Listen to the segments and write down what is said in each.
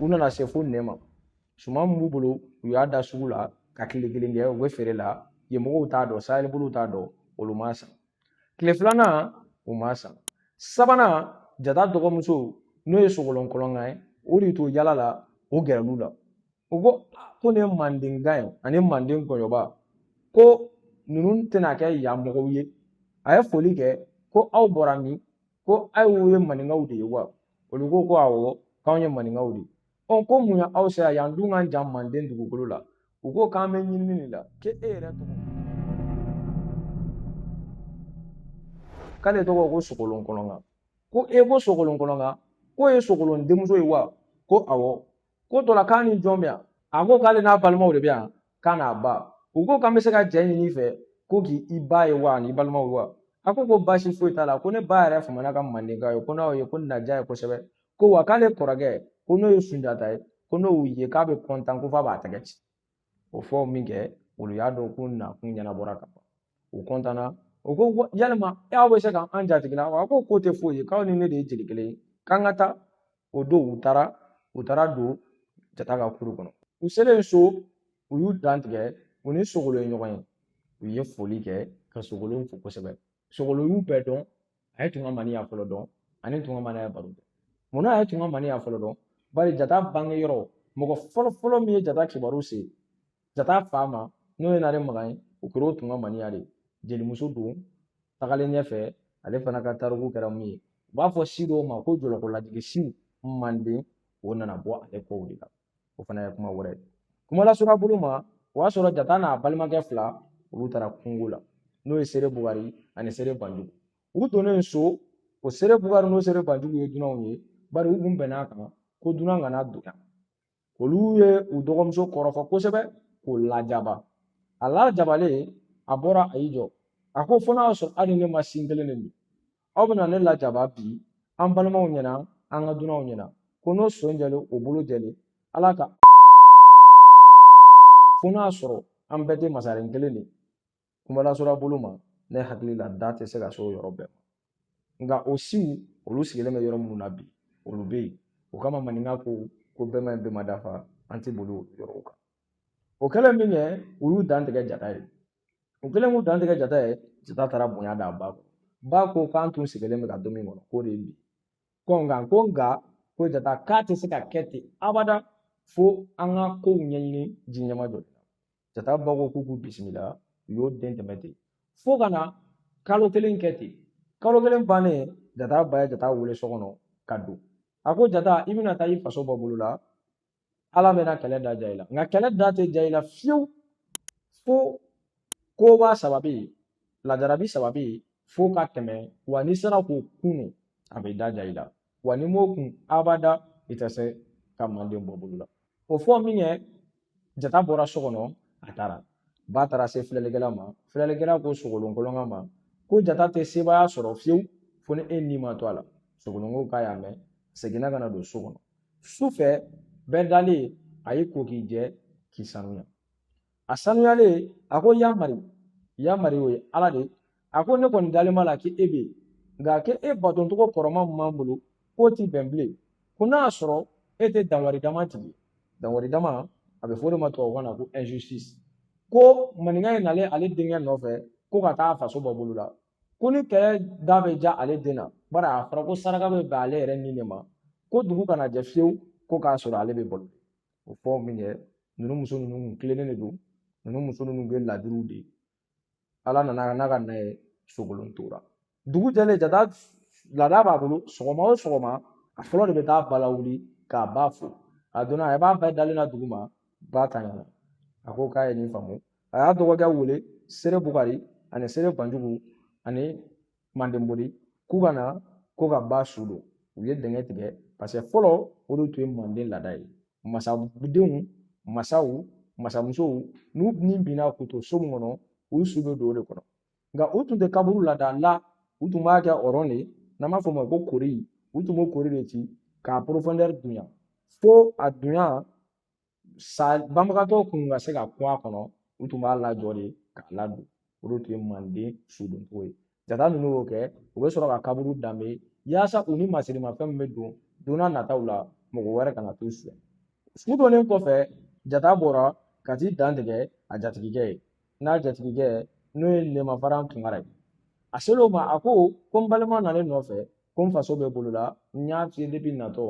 U nana se fo nɛma suman min b'u bolo u y'a da sugu la ka kile kelen kɛ u bɛ feere la yen mɔgɔw t'a dɔn sahɛli bolow t'a dɔn olu ma san tile filanan u ma san sabanan jata dɔgɔmuso n'o ye sogolon kɔlɔnkan ye o de to yaala la o gɛrɛl'u la u ko ko nin ye manden gan ye ani manden ngɔyɔba ko ninnu tɛna kɛ yan mɔgɔw ye a ye foli kɛ ko aw bɔra min ko aw ye maninkaw de ye wa olu ko ko awɔ k'anw ye maninkaw de ye ɔ ko munna aw sera yan dun ka jan manden dugukolo la u ko k'an bɛ ɲinini de la k'e e yɛrɛ tɔgɔ k'ale tɔgɔ ko sogolon kɔlɔnkan ko e ko sogolon kɔlɔnkan k'o ye sogolon denmuso ye wa ko awɔ ko dɔ la k'a ni jɔn bɛ yan a ko k'ale n'a balimaw de bɛ yan k'a n'a ba u ko k'an bɛ se ka jɛ ɲini i fɛ ko k'i i ba ye wa an'i balimaw wa a ko ko baasi foyi t'a la ko ne ba yɛrɛ famana ka mandenka ye ko n'aw ye k'o na diya a ye kosɛbɛ ko wa k'ale kɔrɔkɛ ko n'o ye sunjata ye ko n'o ye k'a bɛ kɔntan ko f'a b'a tɛgɛ ci o fɔ minkɛ olu y'a dɔn k'u nakun ɲɛnabɔra ka ban u kɔntanna u ko yalima e aw bɛ se ka an jatigila wa ko k'o tɛ foyi ye k'aw ni ne de ye jeli kelen ye k'an ka taa o don u taara u taara don jata ka kuru kɔnɔ u selen so u y'u dantigɛ u ni sogolon ye ɲɔgɔn ye u ye foli kɛ ka sogolon fo kosɛbɛ sogolon y'u bɛɛ dɔn a ye tunku maniya fɔlɔ dɔn ani tunku maniya baro kɛ munna a ye tunku maniya fɔlɔ dɔn bari jata bange yɔrɔ mɔgɔ fɔlɔ fɔlɔ min ye jata kibaru se jata fa ma n'o ye nare makan ye o kɛra o tunku maniya de jelimuso don tagalen ɲɛfɛ ale fana ka tariku kɛra mun ye u b'a fɔ si dɔw ma ko jɔlɔkɔladigi siw manden o nana bɔ ale kow de la o fana ye kuma wɛrɛ ye kuma lasurunya bolo ma o y'a sɔrɔ jata n'a balimakɛ fila olu taara kungo la n'o ye sere bugari ani sere banjugu u donnen so o sere bugari n'o sere banjugu ye dunanw ye bari u kun bɛn'a kan ko dunan kana don yan olu ye u dɔgɔmuso kɔrɔfɔ kosɛbɛ k'o lajaba a lajabalen a bɔra a y'i jɔ a ko fo n'a y'a sɔrɔ aw ni ne ma sin kelen de min aw bɛna ne lajaba bi an balimaw ɲɛna an ka dunanw ɲɛna ko n'o son jɛlen o bolo jɛlen ala ka fo n'a sɔrɔ an bɛɛ tɛ masaren kelen de kuma lasurunya bolo ma ne hakili la da tɛ se ka se o yɔrɔ bɛɛ ma nka o siw olu sigilen bɛ yɔrɔ minnu na bi olu bɛ yen o kama maninka ko ko bɛɛ man ɲi bɛɛ ma dafa an tɛ boli o yɔrɔw kan o kɛlen minkɛ u y'u dantigɛ jata ye u kɛlen k'u dantigɛ jata ye jata taara bonya d'a ba kan ba ko k'an tun sigilen bɛ ka don min kɔnɔ k'o de ye bi ko nka ko nka ko jata k'a tɛ se ka kɛ ten abada fo an ka kow ɲɛɲini ji ɲɛma jɔ jata ba ko k'u k'u bisimila u y'o don tɛmɛ ten fo ka na kalo kelen kɛ ten kalo kelen bannen jata ba ye jata wele so kɔnɔ ka don a ko jata i bɛna taa i faso bɔ bolo la ala bɛna kɛlɛ da ja i la nka kɛlɛ da tɛ ja i la fiyewu fo koba saba bɛ yen lajarabi saba bɛ yen fo ka tɛmɛ wa n'i sera k'o kun de a bɛ da ja i la wa n'i m'o kun abada i tɛ se ka manden bɔ bolo la o fɔ min kɛ jata bɔra so kɔnɔ a taara ba taara se filɛlikɛla ma filɛlikɛla ko sogolon kolonkan ma ko jata tɛ sebaaya sɔrɔ fiyewu fo ni e ni ma to a la sogolon ko k'a y'a mɛn seginna ka na don so kɔnɔ su fɛ bɛɛ dalen a y'i ko k'i jɛ k'i sanuya a sanuyalen a ko yamari yamari o ye ala de a ko ne kɔni dalen b'a la k'e bɛ yen nka k'e e batocogo kɔrɔman min b'an bolo k'o ti bɛn bilen ko n'a y'a sɔrɔ e tɛ danwari dama tigi danwari dama a bɛ fɔ o de ma tubabukan na ko injustice ko maninka ye nalen ale denkɛ nɔfɛ ko ka taa faso bɔ bolo la ko ni kɛlɛ da bɛ ja ale den na bari a fɔra ko saraka bɛ bɛn ale yɛrɛ ni de ma ko dugu kana jɛ fiyewu ko k'a sɔrɔ ale bɛ balo o fɔ min kɛ ninnu muso ninnu kun tilennen de don ninnu muso ninnu bɛ ladiriw de ala nana n'a ka na ye sogolon tora dugu jɛlen jata laada b'a bolo sɔgɔma o sɔgɔma a fɔlɔ de bɛ taa ba lawuli k'a ba fo a donna a ba bɛ dalen na dugu ma ba ta ɲɛna a ko k'a ye nin faamu a y'a dɔgɔkɛ wele sere bukari ani sere banjugu ani manden bori k'u ka na k'u ka ba su don u ye dingɛ tigɛ paseke fɔlɔ o de tun ye manden laada ye masadenw masaw masamusow n'u ni binna k'u to so min kɔnɔ u su bɛ don o de kɔnɔ nka u tun tɛ kaburu laada la u tun b'a kɛ ɔrɔn de n'an b'a fɔ o ma ko kori u tun b'o kori de ci k'a porofɔndɛri dunya fo a dunya sa banbagatɔ kun ka se ka kun a kɔnɔ u tun b'a lajɔ de k'a ladon o de tun ye manden sudonko ye jata ninnu y'o kɛ u bɛ sɔrɔ ka kaburu danbe yaasa u ni masirimafɛn min bɛ don don n'a nataw la mɔgɔ wɛrɛ kana t'u fɛ su donnen kɔfɛ jata bɔra ka t'i dantigɛ a jatigikɛ ye n'a jatigikɛ n'o ye nɛma faran tunkara ye a ser'o ma a ko ko n balima nalen n nɔfɛ ko n faso bɛ bolo la n y'a f'i ye natɔ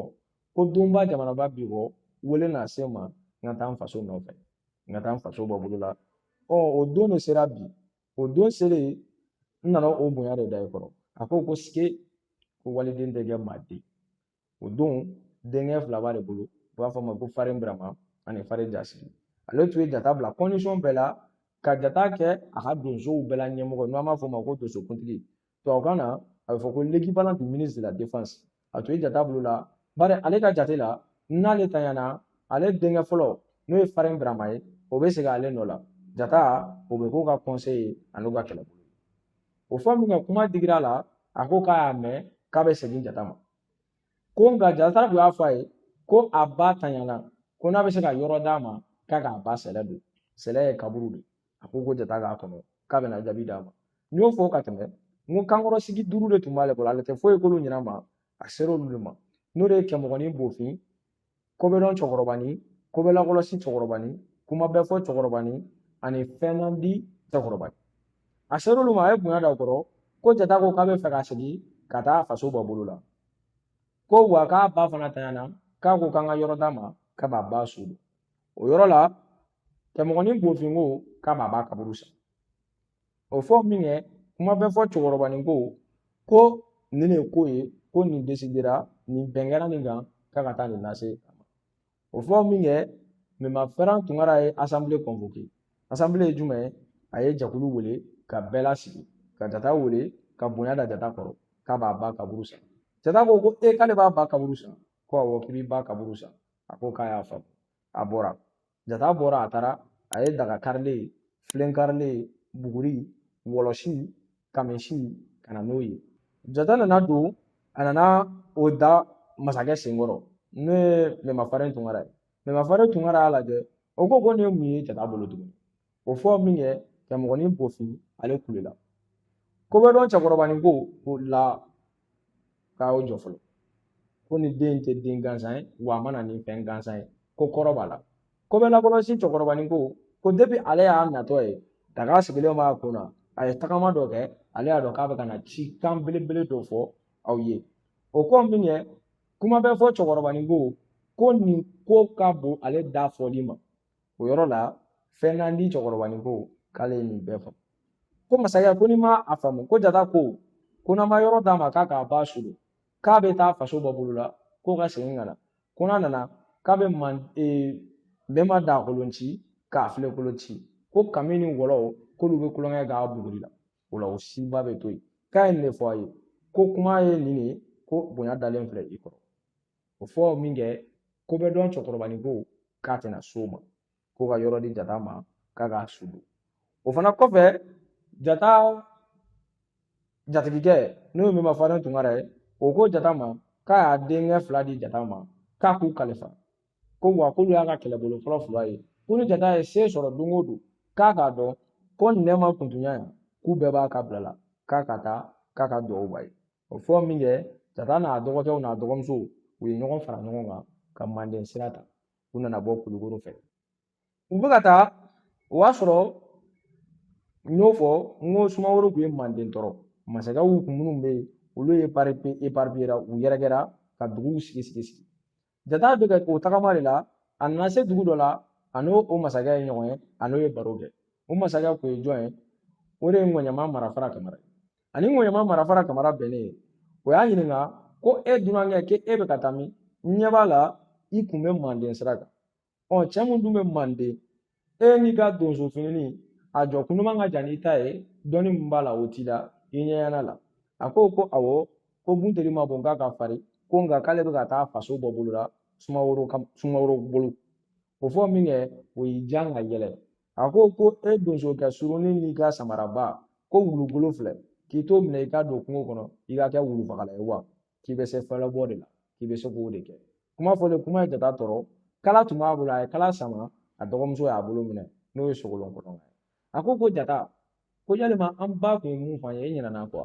ko donba jamanaba bi bɔ wele na se n ma n ka taa n faso nɔfɛ n ka taa n faso bɔ bolo la ɔ o don de sera bi o don selen n nana o bonya de da i kɔrɔ a ko ko sike ko waliden tɛ kɛ maa den o don denkɛ fila b'ale bolo u b'a fɔ a ma ko farin birama ani farin jasigi ale tun ye jata bila bɛɛ la ka jata kɛ a ka donsow bɛɛ la ɲɛmɔgɔ n'an b'a fɔ o ma ko donsokuntigi tubabukan na a bɛ fɔ ko l'équivalent du ministre de la défense a tun ye jata bila o la bari ale ka jate la n'ale tanyana ale denkɛ fɔlɔ n'o ye Farin Birama ye o bɛ sigi ale nɔ la jata o bɛ k'o ka conseil ye an'u ka kɛlɛbolo o fɔ min kɛ kuma digira a la a ko k'a y'a mɛn k'a bɛ segin jata ma ko nka jata tun y'a fɔ a ye ko a ba tanyana ko n'a bɛ se ka yɔrɔ d'a ma k'a k'a ba sɛlɛ don sɛlɛ ye kaburu de ye a ko ko jata k'a kɔnɔ k'a bɛna jaabi d'a ma n y'o fɔ ka tɛmɛ n ko kankɔrɔsigi duuru de tun b'ale bolo ale tɛ foyi k'olu ɲina ma a ser'olu de ma n'o de ye kɛmɔgɔnin bofin kobɛdɔn cɛkɔrɔbanin kobɛlakɔlɔsi cɛkɔrɔbanin kuma bɛɛ fɔ cɛkɔrɔbanin ani fɛn man di cɛkɔrɔbanin a ser'olu ma a ye bonya da u kɔrɔ ko jata ko k'a bɛ fɛ ka segin ka taa faso bɔ bolo la ko wa k'a ba fana tanyana k'a ko k'an ka yɔrɔ d'a ma k'a b'a ba su don o yɔrɔ la kɛmɔgɔnin bofin ko k'a b'a ba kaburu san o fɔ min kɛ kuma bɛɛ fɔ cɛkɔrɔbanin ko ko nin de ko ye ko nin desidera ni bɛn kɛra nin kan k'a ka taa nin lase a ma o fɔ min kɛ mɛma farin tunkara ye asanbile kɔnfoke asanbile ye jumɛn ye a ye jɛkulu wele ka bɛɛ lasigi ka jata wele ka bonya da jata kɔrɔ k'a b'a ba kaburu san jata ko ko e k'ale b'a ba kaburu san ko awɔ k'i b'i ba kaburu san a ko k'a y'a faamu a bɔra jata bɔra a taara a ye daga karilen filen karilen buguri wɔlɔsi kamisi ka na n'o ye jata nana don a nana o da masakɛ senkɔrɔ n'o ye mɛma farin tunkara ye mɛma farin tunkara y'a lajɛ o ko ko nin ye mun ye jata bolo tuguni O fɔ min kɛ kɛmɔgɔnin bofin ale kulela kobɛdɔn cɛkɔrɔbanin ko ko la k'a y'o jɔ fɔlɔ ko nin den tɛ den gansan ye wa a ma na ni fɛn gansan ye ko kɔrɔ b'a la kobɛlakɔlɔsi cɛkɔrɔbanin ko ko depi ale y'a natɔ ye daga sigilen b'a kun na a ye tagama dɔ kɛ ale y'a dɔn k'a bɛ ka na cikan belebele dɔ fɔ aw ye o fɔ min kɛ kuma bɛɛ fɔ cɛkɔrɔbanin ko ko nin ko ka bon ale da fɔli ma o yɔrɔ la fɛn man di cɛkɔrɔbanin ko k'ale ye nin bɛɛ fɔ ko masakɛ ko n'i m'a faamu ko jata ko ko n'an ma yɔrɔ d'a ma k'a k'a ba su don k'a bɛ taa faso bɔ bolo la ko ka segin ka na ko n'a nana k'a bɛ mɛma daga kolon ci k'a filen kolon ci ko kami ni wɔlɔw k'olu bɛ tulonkɛ a buguri la o la u si bɛ to yen k'a ye nin de fɔ a ye ko kuma ye nin de ye ko bonya dalen filɛ i kɔrɔ o fɔ min kɛ ko bɛɛ dɔn cɛkɔrɔbanin ko k'a tɛna s'o ma ko ka yɔrɔ di jata ma k'a k'a su don o fana kɔfɛ jata jatigikɛ n'o ye mɛma faran tunkara ye o ko jata ma k'a y'a denkɛ fila di jata ma k'a k'u kalifa ko wa k'olu y'a ka kɛlɛbolo fɔlɔ fila ye ko ni jata ye se sɔrɔ don o don k'a k'a dɔn ko nɛma kuntunya yan k'u bɛɛ b'a ka bila la k'a ka taa k'a ka dugawu b'a ye o fɔ min kɛ jata n'a dɔgɔkɛw n'a dɔgɔmuso u ye ɲɔgɔn fara ɲɔgɔn kan ka manden sira ta u nana bɔ kulukoro fɛ u bɛ ka taa o y'a sɔrɔ n y'o fɔ n ko sumaworo tun ye manden tɔɔrɔ masakɛw kun minnu bɛ yen olu ye eparipiyera u yɛrɛkɛra ka duguw sigi sigi sigi jata bɛ o tagama de la a nana se dugu dɔ la a n'o o masakɛ ye ɲɔgɔn ye a n'o ye baro kɛ o masakɛ kun ye jɔn ye o de ye ŋɔɲama marafara kamara a ni ŋɔɲama marafara kamara bɛnnen ye o y'a ɲininka ko e dunankɛ k'e bɛ ka taa min n ɲɛ b'a la i kun bɛ manden sira kan ɔ cɛ min dun bɛ manden e n'i ka donso fini a jɔ kundama ka jan n'i ta ye dɔnni min b'a la o t'i la i ɲɛɲɛna la a ko ko awɔ ko bunteli man bon nk'a ka farin ko nka k'ale bɛ ka taa faso bɔ bolo la sumaworo ka sumaworo bolo o fɔ min kɛ o y'i jan ka yɛlɛ a ko ko e donso kɛ surunin n'i ka samaraba ko wulubolo filɛ k'i t'o minɛ i ka don kungo kɔnɔ i ka kɛ wulufagala ye wa k'i bɛ se falabɔ de la k'i bɛ se k'o de kɛ kuma fɔlen kuma ye jata tɔɔrɔ kala tun b'a bolo a ye kala sama a dɔgɔmuso y'a bolo minɛ n'o ye sogolon kolon ye a ko ko jata ko yalima an ba kun ye mun fɔ an ye e ɲinɛna kɔ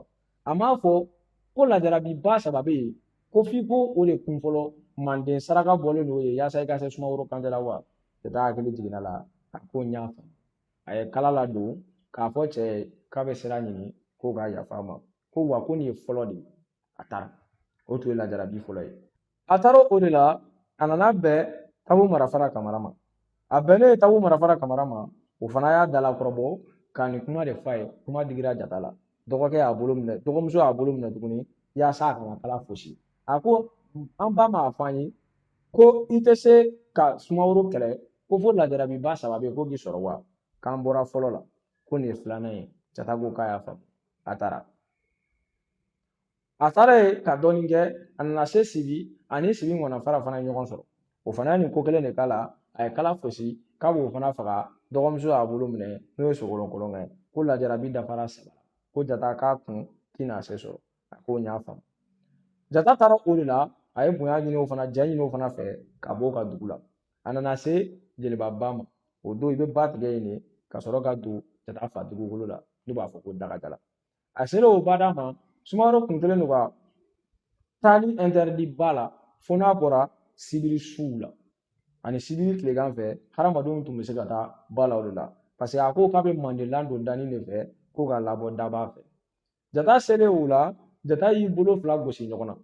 a m'a fɔ ko lajarabi ba saba bɛ yen ko f'i k'o de kun fɔlɔ manden saraka bɔlen don ye yaasa i ka se sumaworo kante la wa jata hakili jiginna a la a ko n y'a faamu a ye kala ladon k'a fɔ cɛ ye k'a bɛ sira ɲini k'o ka yafa a ma ko wa ko nin ye fɔlɔ de ye a taara o tun ye lajarabi fɔlɔ ye a taara o de la a nana bɛn tabu marafara kamara ma a bɛnnen ye tabu marafara kamara ma o fana y'a dalakɔrɔbɔ ka nin kuma de fɔ a ye kuma digira jata la dɔgɔkɛ y'a bolo minɛ dɔgɔmuso y'a bolo minɛ tuguni yaasa a kana kala fosi a ko an ba m'a fɔ an ye ko i tɛ se ka sumaworo kɛlɛ ko fo lajarabi ba saba bɛ yen k'o b'i sɔrɔ wa k'an bɔra fɔlɔ la ko nin ye filanan ye jata ko k'a y'a faamu a taara a taara ɲɛ ka dɔɔnin kɛ a nana se sibi a ni sibi ŋana fara fana ye ɲɔgɔn sɔrɔ o fana ye nin ko kelen de k'a la a ye kala fosi k'a b'o fana faga dɔgɔmuso y'a bolo minɛ n'o ye sogolon kolon ye ko lajarabi dafara saba ko jata k'a kun tɛna se sɔrɔ a ko n y'a faamu jata taara o de la a ye bonya ɲini o fana ja ɲini o fana fɛ ka bɔ o ka dugu la a nana se jeliba ba ma o don i bɛ ba tigɛ yen de ka sɔrɔ ka don ka taa fa dugukolo la n'u b'a fɔ ko dagajala a sera o bada ma sumaworo kun kɛlen don ka taali ɛntɛrɛdi ba la fo n'a bɔra sibiri su la ani sibiri tilegan fɛ hadamadenw tun bɛ se ka taa ba la o de la paseke a ko k'a bɛ manden ladon danin de fɛ ko k'a labɔ daba fɛ jata selen o la jata y'i bolo fila gosi ɲɔgɔn na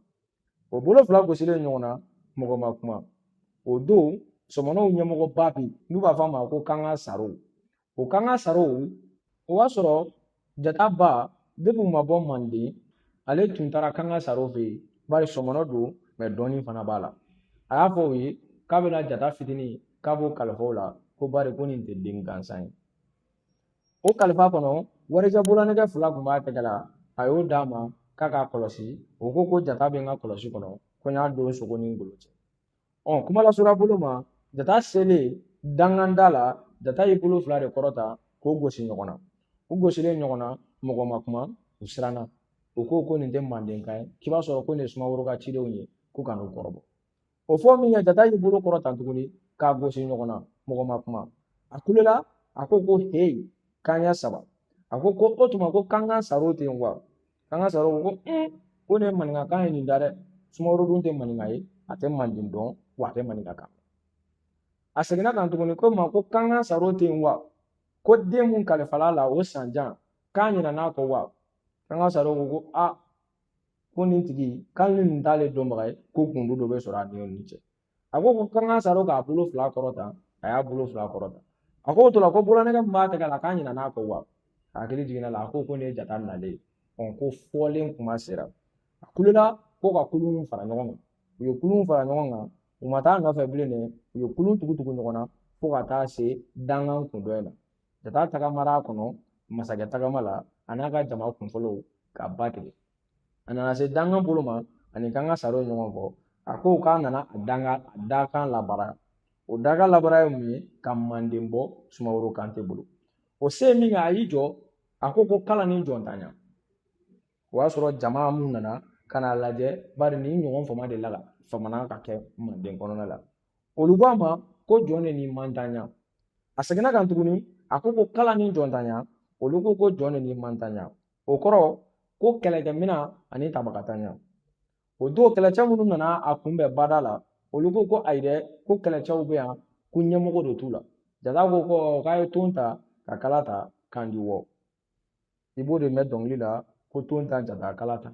o bolo fila gosilen ɲɔgɔn na mɔgɔ ma kuma o don sɔmɔnɔw ɲɛmɔgɔba bɛ yen n'u b'a fɔ a ma ko kanga saro o kanga saro o b'a sɔrɔ jata ba depi u ma bɔ manden ale tun taara kanga saro fɛ yen bari sɔmɔnɔ don mɛ dɔnni fana b'a la a y'a fɔ o ye k'a bɛna jata fitinin k'a b'o kalifa o la ko bari ko nin tɛ den gansan ye O kalifa kɔnɔ warijɛ bololanɛgɛ fila kun b'a tɛgɛ la a y'o d'a ma k'a k'a kɔlɔsi o ko ko jata bɛ n ka kɔlɔsi kɔnɔ ko n y'a don sogo ni ngolo cɛ ɔ kuma lasurunya bolo ma jata selen dankan da la jata y'i bolo fila de kɔrɔta k'o gosi ɲɔgɔn na u gosilen ɲɔgɔn na mɔgɔ ma kuma u siranna u ko ko nin tɛ mandenka ye k'i b'a sɔrɔ ko nin ye sumaworo ka cidenw ye ko ka n'u kɔrɔbɔ o fɔ min kɛ jata y'i bolo kɔrɔta tuguni k'a gosi ɲɔgɔn na mɔgɔ ma kuma a kulela a ko ko heyi k'an y'a saba a ko ko o tuma ko kanga saro tɛ yen wa kanga saro ko ko ne maninkakan ye nin da dɛ sumaworo dun tɛ maninka ye a tɛ manden dɔn wa a tɛ maninka kan a seginna a kan tuguni k'o ma ko kanga saro tɛ yen wa ko den mun kalifal'a la o san jan k'a ɲinɛn'a kɔ wa kanga saro ko ko a ko nin tigi k'ale ni nin t'ale dɔnbaga ye ko gundo dɔ bɛ sɔrɔ a ni nin cɛ a ko ko kanga saro k'a bolo fila kɔrɔta a y'a bolo fila kɔrɔta a ko o tora ko bololanɛgɛ min b'a tɛgɛ la k'a ɲinɛn'a kɔ wa a hakili jiginn'a la a ko ko nin ye jata nalen ye ɔ ko fɔlen kuma sera a kulela ko ka kulun fara ɲɔgɔn kan u ye kulun fara ɲɔgɔn kan u ma taa nɔfɛ bilen dɛ u ye kulun tugu tugu ɲɔgɔn na fo ka taa se dankan kun dɔ in na Ka taa tagamara kɔnɔ masakɛ tagamala a n'a ka jama kunfɔlɔw ka ba tigɛ a nana se dankan bolo ma a ni kanga saro ye ɲɔgɔn kɔ a ko k'a nana a danga a dakan labara o dakan labara ye mun ye ka manden bɔ sumaworo kante bolo o se min kɛ a y'i jɔ a ko ko kala ni jɔntanya o y'a sɔrɔ jama mun nana ka n'a lajɛ bari nin ɲɔgɔn fama de la ka fama ka kɛ manden kɔnɔna la olu ko a ma ko jɔn de ni mantanya a seginna a kan tuguni a ko ko kala ni jɔntanya olu ko ko jɔn de ni mantanya o kɔrɔ ko kɛlɛkɛmina ani tabagatanya o don kɛlɛcɛ minnu nana a kunbɛn bada la olu ko ko ayi dɛ ko kɛlɛcɛw bɛ yan ko ɲɛmɔgɔ de t'u la jata ko ko k'a ye ton ta ka kala ta k'an di wɔ i b'o de mɛn dɔnkili la ko ton ta jata kala ta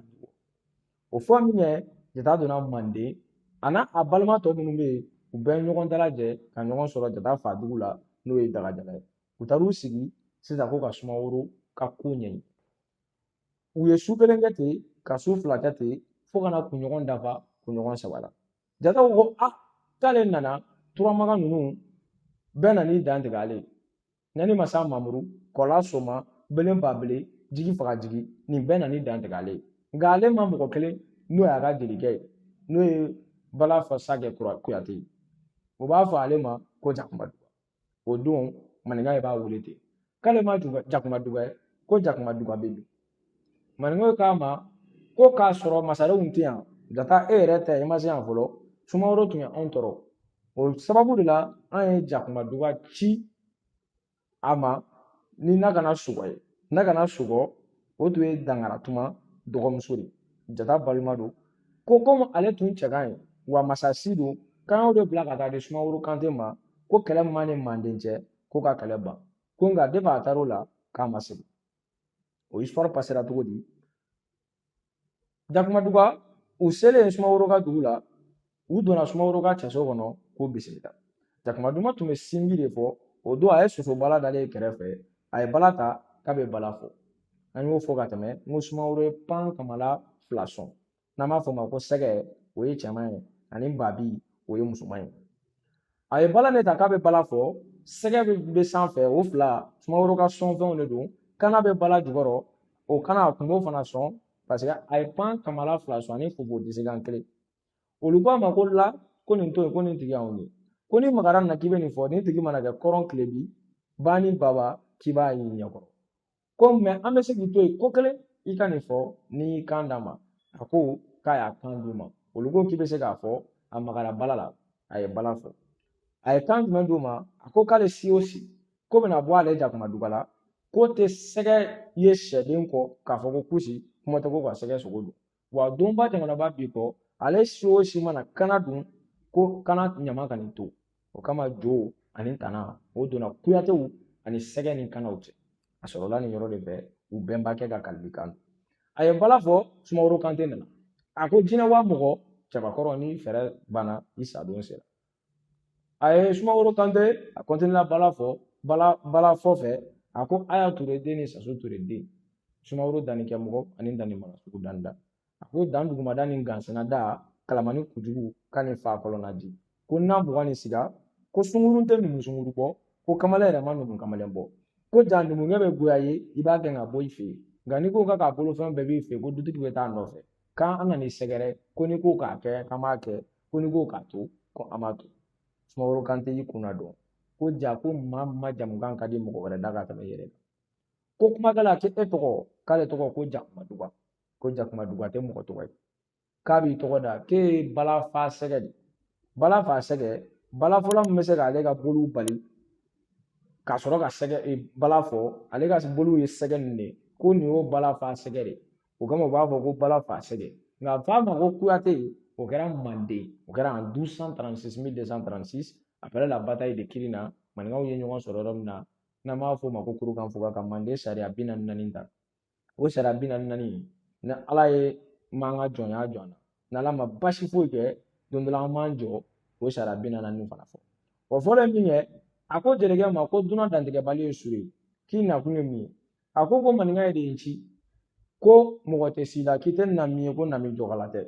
o fɔ min kɛ jata donna manden a n'a balima tɔ minnu bɛ yen u bɛɛ ye ɲɔgɔn dalajɛ ka ɲɔgɔn sɔrɔ jata fa dugu la n'o ye dagajala ye u taar'u sigi sisan ko ka sumaworo ka ko ɲɛɲini u ye su kelen kɛ ten ka su fila kɛ ten fo ka na kunɲɔgɔn dafa kunɲɔgɔn saba la jata ko a k'ale nana turamaga ninnu bɛɛ nan'i dantigɛ ale Ɲani masa mamuru kɔla soma belen ba bele jigi faga jigi nin bɛɛ nan'i dantigɛ ale ye nka ale ma mɔgɔ kelen n'o y'a ka jelikɛ ye n'o ye bala fasakɛ kuyate ye o b'a fɔ ale ma ko jakuma duga o don maninka ye b'a wele ten k'ale ma jakuma duga ye ko jakuma duga bɛ min maninkaw k'a ma ko k'a sɔrɔ masarenw tɛ yan jata e yɛrɛ tɛ i ma se yan fɔlɔ sumaworo tun ye anw tɔɔrɔ o sababu de la an ye jakuma duga ci a ma ni na kana sugɔ ye na kana sugɔ o tun ye dankaratuma dɔgɔmuso de jata balima don ko komi ale tun cɛ ka ɲi wa masasi don k'an y'o de bila ka taa di sumaworo kante ma ko kɛlɛ min b'a ni manden cɛ ko ka kɛlɛ ban ko nka depi a taar'o la k'a ma segin o histoire pasera cogo di jakuma duga u selen sumaworo ka dugu la u donna sumaworo ka cɛso kɔnɔ k'u bisimila jakuma duga tun bɛ sinbi de fɔ o don a ye soso bala dalen ye kɛrɛfɛ a ye bala ta k'a bɛ bala fɔ an y'o fɔ ka tɛmɛ n ko sumaworo ye pan kamala fila sɔn n'an b'a fɔ o ma ko sɛgɛ o ye cɛman ye ani babi o ye musoman ye a ye bala nin ta k'a bɛ bala fɔ sɛgɛ bɛ sanfɛ o fila sumaworo ka sɔnfɛnw de don kana bɛ bala jukɔrɔ o kana a tun b'o fana sɔn paseke a ye pan kamala fila sɔn ani fofo disi kan kelen olu ko a ma ko la ko nin to yen ko nin tigi y'anw ye ko n'i magara nin na k'i bɛ nin fɔ nin tigi mana kɛ kɔrɔn tilebi ba ni baba k'i b'a y'i ɲɛkɔrɔ ko mɛ an bɛ se k'i to yen ko kelen i ka nin fɔ n'i y'i kan d'an ma a ko k'a y'a kan d'u ma olu ko k'i bɛ se k'a fɔ a magara bala la a ye bala fɔ a ye kan jumɛn d'u ma a ko k'ale si o si ko bɛna bɔ ale jakuma duga la k'o tɛ sɛgɛ ye sɛden kɔ k'a fɔ ko kusi kuma tɛ k'o ka sɛgɛ sogo dun wa donba jamanaba bi kɔ ale si o si mana kana dun ko kana ɲama kan'i to o kama jo ani tana o donna kuyatew ani sɛgɛ ni kanaw cɛ a sɔrɔla nin yɔrɔ de fɛ u bɛnbakɛ ka kalikan don a ye bala fɔ sumaworo kante nana a ko jinɛ wa mɔgɔ cɛbakɔrɔ n'i fɛɛrɛ banna i sadon sera a ye sumaworo kante a kɔntinila bala fɔ bala bala fɔ fɛ a ko aya ture den ni saso ture den sumaworo danni kɛmɔgɔ ani danni mara sugu danni da a ko dan dugumada ni gansɛnɛ da kalamani kujugu ka ni fa kɔlɔnna di ko n'a mugan ni siga ko sungurun tɛ numu sungurun bɔ ko kamalen yɛrɛ ma numu kamalen bɔ ko ja numukɛ bɛ goya i ye i b'a gɛn ka bɔ i fɛ yen nka n'i ko k'a bolofɛn bɛɛ b'i fɛ ko dutigi bɛ taa nɔfɛ k'an nana i sɛgɛrɛ ko n'i ko k'a kɛ k'an b'a kɛ ko n'i ko k'a to ko an b'a to sumaworo kante y'i kun nadon ko ja ko maa majamukan ka di mɔgɔ wɛrɛ da ka tɛmɛ i yɛrɛ kan ko kumakɛla a tɛ e tɔgɔ k'ale tɔgɔ ko jakuma duga ko jakuma duga tɛ mɔgɔ tɔgɔ ye k'a b'i tɔgɔ da k'e ye bala fasɛgɛ de bala fasɛgɛ balafɔla min bɛ se k'ale ka boliw bali ka sɔrɔ ka se ka bala fɔ ale ka boliw ye sɛgɛ nin de ye ko nin y'o bala fasɛgɛ de ye o kama u b'a fɔ ko bala fasɛgɛ nka a f'a ma ko kuyate o kɛra manden o kɛra en 1236 1236 après la bataille de kirina maninkaw ye ɲɔgɔn sɔrɔ yɔrɔ min na n'an b'a fɔ o ma ko kurukan fuga ka manden sariya bi naani naani ta o sariya bi naani naani ni ala ye m'an ka jɔnya jira an na n'ala ma basi foyi kɛ don dɔ la an b'an jɔ o sariya bi naani naani fana fɔ o fɔlɔ ye min ye a ko jelikɛ ma ko dunan dantigɛbali ye su ye k'i nakun ye mun ye a ko ko maninkaw de ye n ci ko mɔgɔ tɛ si la k'i tɛ na min ye ko na min jɔkala tɛ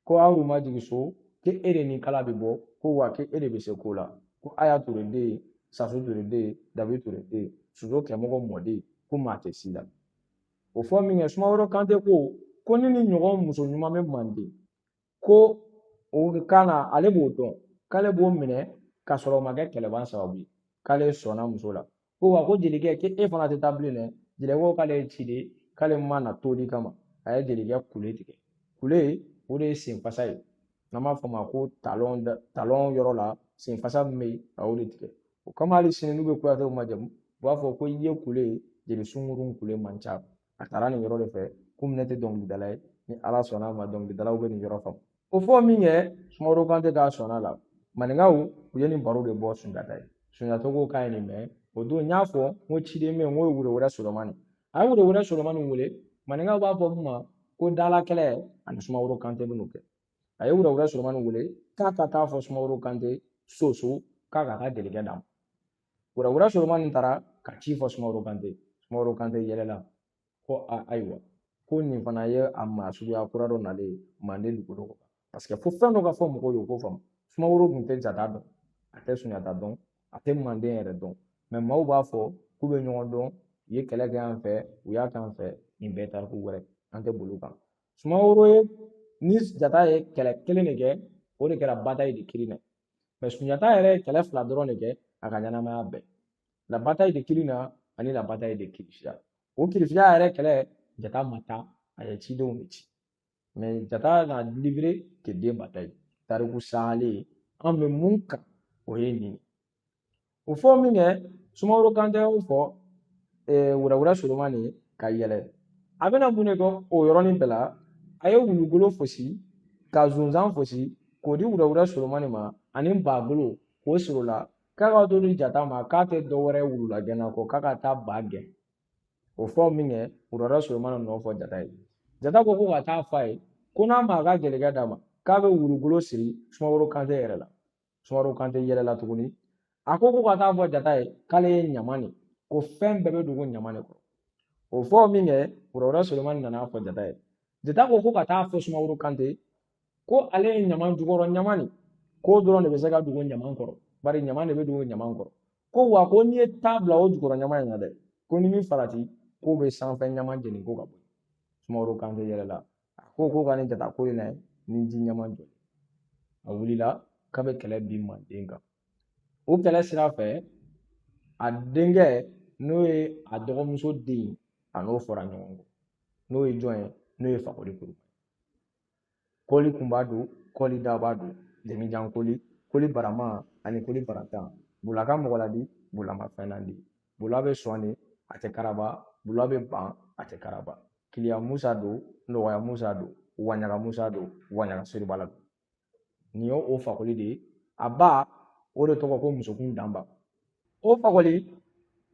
ko aw ma jigin so k'e de ni kala bɛ bɔ ko wa k'e de bɛ se ko la ko aya ture den ye sasu ture den ye dabi ture den ye soso kɛmɔgɔ mɔden ko maa tɛ si la o fɔ min kɛ sumaworo kante ko ko nin ɲɔgɔn muso ɲuman bɛ manden ko o kan k'ale b'o dɔn k'ale b'o minɛ k'a sɔrɔ o ma kɛ kɛlɛban sababu ye k'ale sɔnna muso la ko wa ko jelikɛ k'e fana tɛ taa bilen dɛ jelikɛ ko k'ale ye ciden ye k'ale ma na toli kama a ye jelikɛ kule tigɛ kule o de ye senfasa ye n'an b'a fɔ o ma ko talɔn talɔn yɔrɔ la senfasa min bɛ yen a y'o de tigɛ o kama hali sini n'u bɛ kuyatew majamu u b'a fɔ ko i ye kule jeli sunkurun kule man ca a taara nin yɔrɔ de fɛ komi ne tɛ dɔnkilidala ye ni ala sɔnna a ma dɔnkilidalaw bɛ nin yɔrɔ faamu o fɔ min kɛ sumaworo kante k'a sɔnna a la maninkaw u ye nin baro de bɔ sunjata ye sunjata ko k'a ye nin mɛn o don n y'a fɔ n ko ciden bɛ yen n k'o ye woro wɛrɛ solomani a ye woro wɛrɛ solomani wele maninkaw b'a fɔ min ma ko dala kɛlɛ ani sumaworo kante bɛn'o kɛ a ye woro wɛrɛ solomani wele k'a ka taa fɔ sumaworo kante soso k'a k'a ka jelikɛ d'a ma Wurawura solomani taara ka ci fɔ sumaworo kante sumaworo kante yɛlɛla ko a ayiwa ko nin fana ye a maa suguya kura dɔ nalen ye manden dugukolo kan paseke fo fɛn dɔ ka fɔ mɔgɔw ye u k'o faamu sumaworo tun tɛ jata dɔn a tɛ sunjata dɔn a tɛ manden yɛrɛ dɔn mɛ maaw b'a fɔ k'u bɛ ɲɔgɔn dɔn u ye kɛlɛ kɛ yan fɛ u y'a kɛ yan fɛ nin bɛɛ tariku wɛrɛ an tɛ boli kan sumaworo ye ni jata ye kɛlɛ kelen de kɛ o de kɛra bataille de kirina mɛ sunjata yɛrɛ ye kɛlɛ fila dɔrɔn de kɛ a ka ɲɛnamaya bɛɛ la bataille de kirina ani la bataille de kirisiya o kirisiya yɛrɛ kɛlɛ jata ma taa a ye cidenw de ci mɛ jata n'a livré que deux batailles tariku salen an bɛ mun kan o ye nin o fɔ minkɛ sumaworo kante y'o fɔ wurawura solomani ka yɛlɛ a bɛna mun de kɛ o yɔrɔnin bɛɛ la a ye wulugolo fosi ka zonzan fosi k'o di wurawura solomani ma ani bagolo k'o siri la k'a ka t'o di jata ma k'a tɛ dɔ wɛrɛ wulula gɛnna kɔ k'a ka taa ba gɛn o fɔ minkɛ wurawura solomani nan'o fɔ jata ye jata ko k'o ka taa fɔ a ye ko n'a ma a ka jelikɛ d'a ma k'a bɛ wulugolo siri sumaworo kante yɛrɛ la sumaworo kante yɛlɛla tuguni a ko k'o ka taa fɔ jata ye k'ale ye ɲama de ko fɛn bɛɛ bɛ dogo ɲama de kɔrɔ o fɔ minkɛ kɔrɔkɛ solomani nana fɔ jata ye jata ko k'o ka taa fɔ sumaworo kante ko ale ye ɲama jukɔrɔ ɲama de k'o dɔrɔn de bɛ se ka dogo ɲama kɔrɔ bari ɲama de bɛ dogo ɲama kɔrɔ ko wa ko n'i ye ta bila o jukɔrɔ ɲama in na dɛ ko ni min farati k'o bɛ sanfɛ ɲama jeni ko ka bɔ sumaworo kante yɛlɛla a ko ko ka ne jata ko in na ni ji ɲɛma jɔ a wulila k'a bɛ kɛlɛ bin manden kan o kɛlɛ sira fɛ a denkɛ n'o ye a dɔgɔmuso den ye a n'o fɔra ɲɔgɔn kɔ n'o ye jɔn ye n'o ye fakoli kuru koli kunba don koli daba don jamujan koli koli barama ani koli barantan bula ka mɔgɔ ladi bula ma fɛn ladi bula bɛ sɔn de a tɛ karaba bula bɛ ban a tɛ karaba kiliya musa don nɔgɔya musa don waɲaga musa don waɲaga seribala don nin ye o fakoli de ye a ba o de tɔgɔ ko musokun danba o fakoli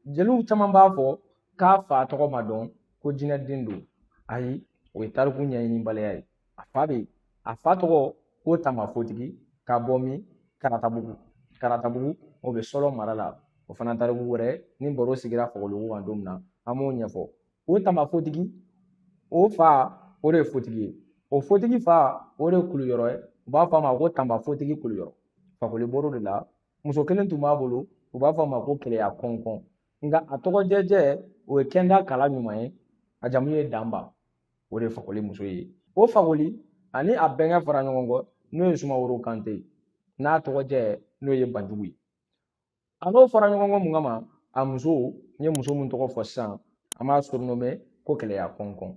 jeliw caman b'a fɔ k'a fa tɔgɔ ma dɔn ko jinɛden don ayi o ye tariku ɲɛɲinibaliya ye a fa bɛ yen a fa tɔgɔ ko tamafotigi ka bɔ min karatabugu karatabugu o bɛ sɔrɔ mara la o fana tariku wɛrɛ ni baro sigira fakoli ko kan don min na an b'o ɲɛfɔ o tamafotigi o fa o de ye fotigi ye o fotigi fa o de ye kuluyɔrɔ ye u b'a fɔ a ma ko tanbafotigi kuluyɔrɔ fakoli bɔr'o de la muso kelen tun b'a bolo u b'a fɔ a ma ko keleya kɔnkɔn nka a tɔgɔ jɛjɛ o ye kɛnda kala ɲuman ye a jamu ye danba o de ye fakoli muso ye o fakoli ani a bɛnkɛ fara ɲɔgɔn kɔ n'o ye sumaworo kante ye n'a tɔgɔ jɛ n'o ye banjugu ye a n'o fara ɲɔgɔn kɔ mun kama a muso n ye muso min tɔgɔ fɔ sisan an b'a surnommer ko kɛlɛya kɔnkɔn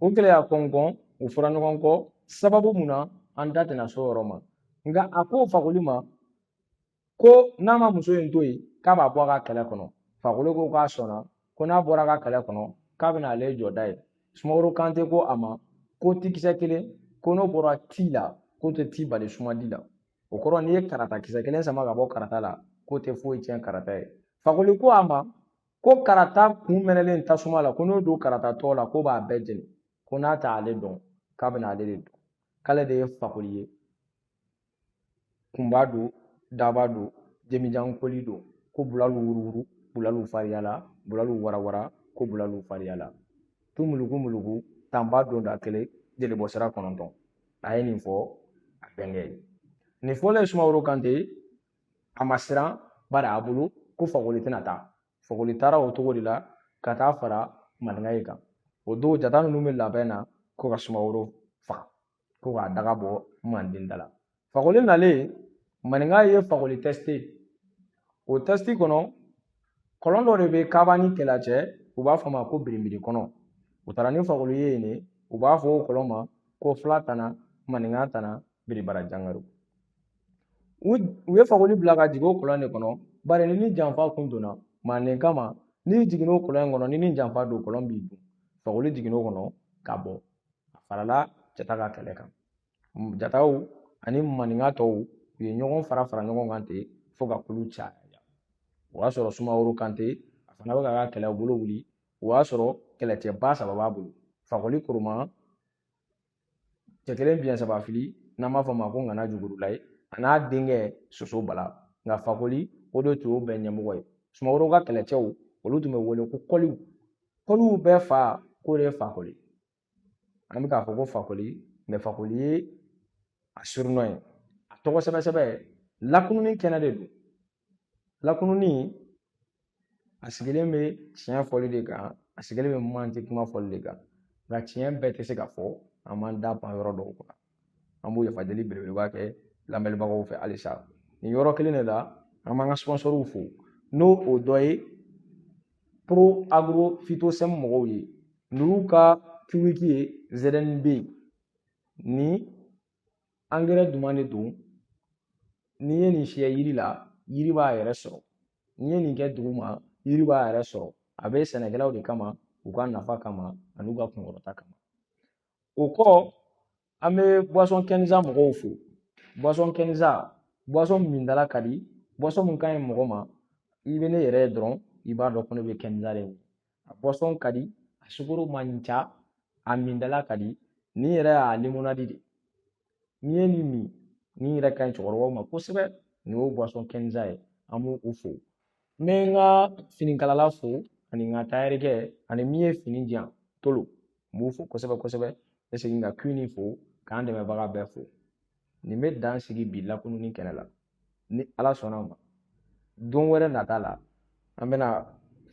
o kɛlɛya kɔnkɔn u fara ɲɔgɔn kɔ sababu mun na an da tɛna s'o yɔrɔ ma nka a ko fakoli ma ko n'a ma muso in to yen k'a b'a bɔ a ka kɛlɛ kɔnɔ fakoli ko k'a sɔnna ko n'a bɔra a ka kɛlɛ kɔnɔ k'a bɛna ale jɔ da ye sumaworo kante ko a ma ko ti kisɛ kelen ko n'o bɔra ti la k'o tɛ ti bali sumadi la o kɔrɔ n'i ye karata kisɛ kelen sama ka bɔ karata la k'o tɛ foyi tiɲɛ karata ye fakoli ko a ma ko karata kun mɛnɛlen tasuma la ko n'o don karata tɔ la k'o b'a bɛɛ jeni ko n'a tɛ ale dɔn k'a bɛna ale de dɔn k'ale de ye fakoli ye kunba don daba don jemijan koli don ko bulalu wuruwuru bulalu fariyala bulalu warawara ko bulalu fariyala tu muluku muluku tanba don da kelen jeli bɔ sira kɔnɔntɔn a ye nin fɔ a bɛnkɛ ye nin fɔlen sumaworo kante a ma siran bari a bolo ko fakoli tɛna taa fakoli taara o cogo de la ka taa fara maninkaw kan o don jata ninnu bɛ labɛn na ko ka sumaworo faga ko k'a daga bɔ manden da la fakoli nalen maninka ye fakoli tester o tɛsiti kɔnɔ kɔlɔn dɔ de bɛ kaba ni kela cɛ u b'a fɔ a ma ko biribiri kɔlɔn u taara ni fakoli ye yen de u b'a fɔ o kɔlɔn ma ko fila tana maninka tana biribara jangaro u ye fakoli bila ka jigin o kɔlɔn de kɔnɔ bari n'i ni janfa kun donna manden kama n'i jiginn'o kɔlɔn in kɔnɔ n'i ni janfa don kɔlɔn b'i dun fakoli jiginn'o kɔnɔ ka bɔ a farala jata ka kɛlɛ kan jataw ani maninka tɔw u ye ɲɔgɔn fara fara ɲɔgɔn kan ten fo ka kulu caya o y'a sɔrɔ sumaworo kante a fana bɛ k'a ka kɛlɛbolo wuli o y'a sɔrɔ kɛlɛcɛba saba b'a bolo fakoli koroma cɛ kelen biɲɛ saba fili n'an b'a fɔ o ma ko ŋana jugurula ye a n'a denkɛ soso bala nka fakoli o de tun y'o bɛɛ ɲɛmɔgɔ ye sumaworo ka kɛlɛcɛw olu tun bɛ wele ko koliw koliw bɛɛ fa k'o de ye fakoli an bɛ k'a fɔ ko fakoli mais fakoli ye a surnom ye a tɔgɔ sɛbɛ sɛbɛ lakununni kɛnɛ de don lakununni a sigilen bɛ tiɲɛ fɔli de kan a sigilen bɛ manden kuma fɔli de kan nka tiɲɛ bɛɛ tɛ se ka fɔ an b'an da pan yɔrɔ dɔw kunna an bɛ yafa deli belebeleba kɛ lamɛnbagaw fɛ halisa nin yɔrɔ kelen de la an b'an ka sponsɔrɔw fo n'o dɔ ye pro agro fitosɛm mɔgɔw ye n'u ka kiwiki ye zɛrɛni bɛ yen nin angɛrɛ duman de don n'i ye nin fiyɛ yiri la yiri b'a yɛrɛ sɔrɔ n'i ye nin kɛ dugu ma yiri b'a yɛrɛ sɔrɔ a bɛ sɛnɛkɛlaw de kama u ka nafa kama ani u ka kunkɔrɔta kama o kɔ an bɛ buwasɔn kɛnza mɔgɔw fo buwasɔn kɛnza buwasɔn min dala ka di buwasɔn min ka ɲi mɔgɔ ma i bɛ ne yɛrɛ ye dɔrɔn i b'a dɔn ko ne bɛ kɛnza de min a buwasɔn ka di a sukoro man ca a min dala ka di nin yɛrɛ y'a limonadi de n'i ye nin min nin yɛrɛ ka ɲi cɛkɔrɔbaw ma kosɛbɛ nin y'o buwasɔn kɛnza ye an b'u fo n bɛ n ka finikalala fo ani n ka tayɛrikɛ ani min ye fini di yan tolo n b'u fo kosɛbɛ kosɛbɛ n bɛ segin ka kuini fo k'an dɛmɛbaga bɛɛ fo nin bɛ dan sigi bi lakununi kɛnɛ la ni ala sɔnna ma don wɛrɛ nata la an bɛna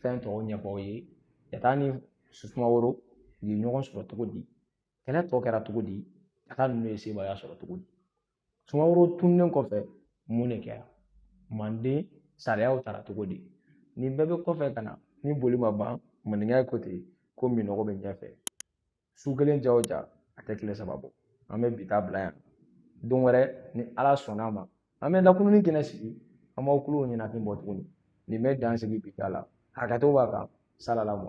fɛn tɔw ɲɛfɔ aw ye jata ni sumaworo u ye ɲɔgɔn sɔrɔ cogo di kɛlɛ tɔ kɛra cogo di a ka ninnu ye sebaaya sɔrɔ cogo di sumaworo tununnen kɔfɛ mun de kɛra manden sariyaw tara cogo di nin bɛɛ bɛ kɔfɛ ka na ni boli ma ban maninka ko ten ko minɔgɔ bɛ ɲɛfɛ su kelen jan o jan a tɛ tile saba bɔ an bɛ bi ta bila yan don wɛrɛ ni ala sɔnna a ma an bɛ lakununi kɛnɛ sigi an b'aw tulo ɲɛnafin bɔ tuguni nin bɛ dan sigi bi ta la hakɛto b'a kan salala mɔ